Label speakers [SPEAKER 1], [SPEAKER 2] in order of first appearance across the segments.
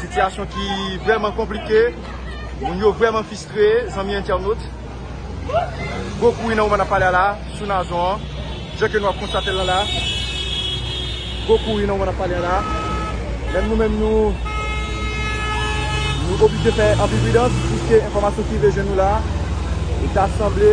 [SPEAKER 1] Sitiyasyon ki vrèman konplike, moun yo vrèman fistre, zanmi entènot. Gwo kouri nan moman nap pale a la, sou Nazon an, jan ke nou ap konstate la la. Gwo kouri nan moman nap pale a la. Menm nou menm nou, nou oblije fè anpil pridans, piske enfòmasyon ki rive jwenn nou la, e ta sanble.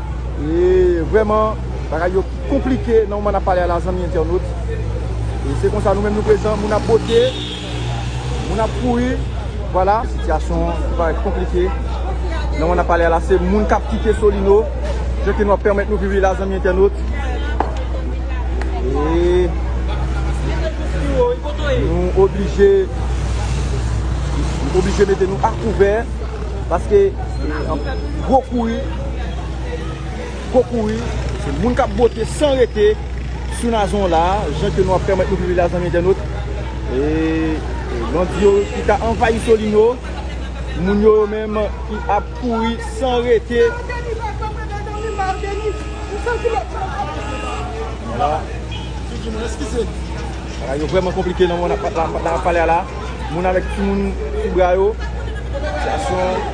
[SPEAKER 1] Eee vrèman bagay yo konplike nan moman nap pale a la zanmi entènot e se konsa nou menm nou prezan moun ap bote moun ap kouri vwala sitiyasyon an li parèt konplike nan moman nap pale a la se moun kap kite solino jan ke nou ap pèmèt nou viv li la zanmi entènot eee nou oblije nou oblije mete nou akouvè paske gwo kouri. Gwo kouri, se moun kap bote san rete sou Nazon la, jan ke nou ap pèmèt nou viv la zanmi entènot. E bandi yo ki ta anvayi Solino, moun yo yo menm ki ap kouri san rete. Bagay yo vreman konplike nan moun ap pale a la. Moun avèk timoun sou bra yo. Sitiyasyon.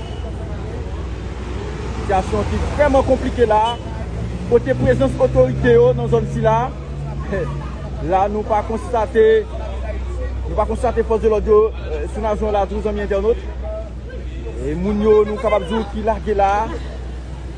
[SPEAKER 1] Sitiyasyon ki vrèman konplike la a, kote prezans otorite yo nan zòn sila a, la nou pa konstate, nou pa konstate fòs de lòd yo sou najon an latou zanmi entènot. E moun yo nou kapab di w ki lage la a.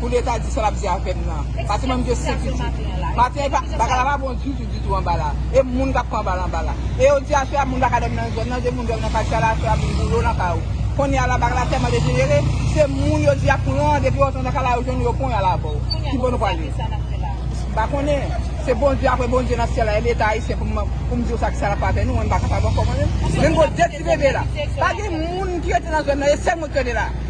[SPEAKER 2] Pou leta di sa lap di a pèp nan. Pase menm de sekirite. Maten bagay la pa bon ditou ditou anba la. E moun kap pran bal anba la. E yodi a soya moun paka dòmi nan zòn nan, de moun dòmi nan katye a la soya moun boule w nan kay ou. Kounye a la bagay la tèlman dejenere, se moun yo di yap pran depi yo antre nan kay la yo jwenn yo pon yal avè w. Ki bò nou prale? M pa konnen. Se Bondye apre Bondye nan syèl la e leta ayisyen pou m di w sa ki sa lap fè avè nou, mwen m pa kapab ankò mwen menm. Menm gon de ti bebe la. Pa gen moun ki rete nan zòn nan e sèl mwen ki rete la.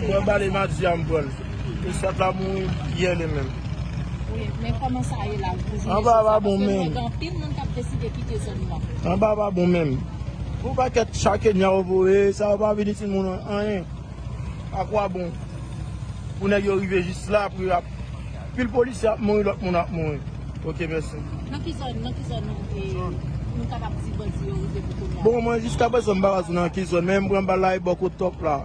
[SPEAKER 3] Mwen bal e madi a m pran l. Esat la mouri yè li menm. Wi men
[SPEAKER 4] koman sa ye la pou jounen jodi a paske
[SPEAKER 3] mwen gen anpil moun kap
[SPEAKER 4] deside kite zòn nan. Anba pa bon menm.
[SPEAKER 3] Pou pakèt cha kenya yo voye sa yo pa vini timoun anyen. A kwa bon pou nèg yo rive jis la pou yo ap pil polisye ap mouri lòt moun ap mouri. Ok mèsi. Nan ki zòn nan ki zòn nou
[SPEAKER 4] kapab di bandi yo rive pou kounya. Bon mwen
[SPEAKER 3] jiskaprezan m pa ka di nan ki zòn men m pran bal la e bò kot top la.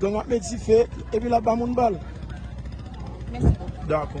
[SPEAKER 3] Gang ap met dife epi lap ba moun bal.
[SPEAKER 4] Mèsi bokou.
[SPEAKER 1] Dakò.